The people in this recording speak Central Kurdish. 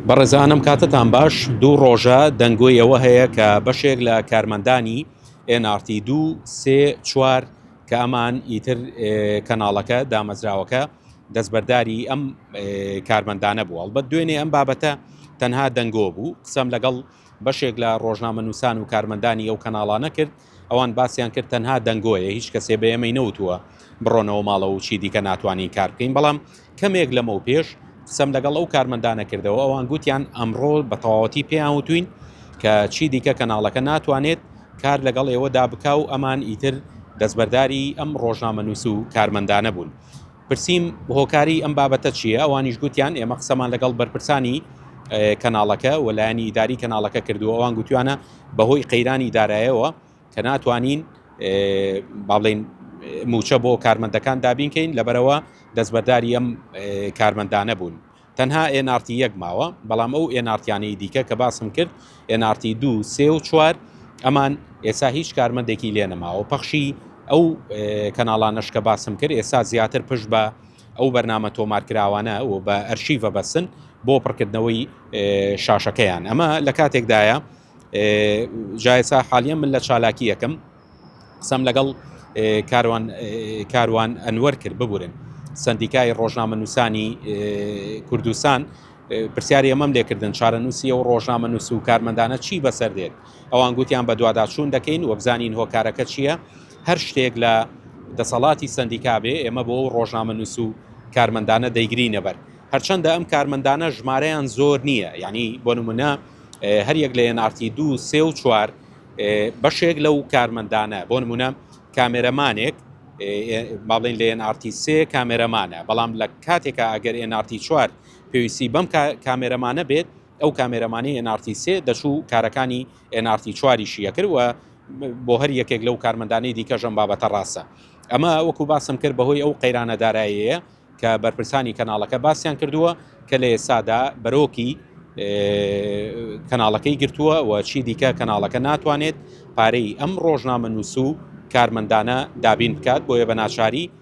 بەڕێزانم کاتتان باش دوو ڕۆژە دەنگۆی ئەوە هەیە کە بەشێک لە کارمەندانی NRT دوو سێ چوار کە ئەمان ئیتر کەناڵەکە دامەزراوەکە دەستبەرداری ئەم کارمەندانە بوو هەڵبەت دوێنێ ئەم بابەتە تەنها دەنگۆ بوو قسەم لەگەڵ بەشێک لە ڕۆژنامەنووسان و کارمەندانی ئەو کەناڵانە کرد ئەوان باسیان کرد تەنها دەنگۆیە، هیچ کەسێ بە ئێمەی نەوتووە بڕۆنەوە ماڵەوە و چی دیکە ناتوانین کار بکەین، بەڵام کەمێک لەمەوپێش قسەم لەگەڵ ئەو کارمەندانە کردەوە، ئەوان گوتیان ئەمڕۆ بە تەواوەتی پێیان وتووین کە چی دیکە کەناڵەکە ناتوانێت کار لەگەڵ ئێوەدا بکا و ئەمان ئیتر دەستبەرداری ئەم ڕۆژنامەنووس و کارمەندانە بوون. پرسیم هۆکاری ئەم بابەتە چییە؟ ئەوانیش گوتیان ئێمە قسەمان لەگەڵ بەرپرسانی کەناڵەکە و لایەنی ئیداری کەناڵەکە کردووە، ئەوان گوتویانە بەهۆی قەیرانی دارایەوە کە ناتوانین باڵێن موچە بۆ کارمەندەکان دابین کەین لەبەرەوە دەستبەرداری ئەم کارمەندانە بوون تەنها ئێنارتی یەک ماوە بەڵام ئەو ئێنارتیانەی دیکە کە باسم کرد ئێنارتی دوو سێ و چوار ئەمان ئێستا هیچ کارمەندێکی لێ نەماوە پەخشی ئەو کەناڵانەشکە باسم کرد ئێستا زیاتر پشت بە ئەو بەرنامە تۆمارکراوانە و بە ئەرشیڤە بەسن بۆ پڕکردنەوەی شاشەکەیان ئەمە لە کاتێکدایە جایسا حالیە من لە چالاکی یەکەم قسەم لەگەڵ کاروان کاروان ئەنوەر کرد ببورن سندیکای ڕۆژنامە نووسانی کوردستان پرسیاری ئەمەم لێکردن چارەنووسی و ڕۆژنامە نووس و کارمەندانە چی بەسەر دێت ئەوان گوتیان بەدواداچوون دەکەین و بزانین هۆکارەکە چییە، هەر شتێک لە دەسەڵاتی سەندیکا بێ، ئێمە بۆ ئەو ڕۆژنامەنووس و کارمەندانە دەیگرینەبەر. هەرچەندە ئەم کارمەندانە ژمارەیان زۆر نییە، یانی بۆ نموونە هەر یەک لە NRT دوو، سێ و چوار بەشێک لەو کارمەندانە، بۆ نموونە کامێرەمانێک با بڵێین لە NRT سێ کامێرەمانە، بەڵام لە کاتێکا ئەگەر NRT چوار پێویستی بەم کامێرەمانە بێت، ئەو کامێرەمانی ئێن ئاڕ تی سێ دەچوو کارەکانی ئێن ئاڕ تی چواریشی ئەکرد و بۆ هەر یەکێک لەو کارمەندانەی دیکەش ئەم بابەتە ڕاستە. ئەمە وەکو باسم کرد بەهۆی ئەو قەیرانە دارایەیە کە بەرپرسانی کەناڵەکە باسیان کردووە کە لە ئێستادا بەرۆکی کەناڵەکەی گرتووە و چی دیکە کەناڵەکە ناتوانێت پارەی ئەم ڕۆژنامەنووس و کارمەندانە دابین بکات بۆیە بە ناچاری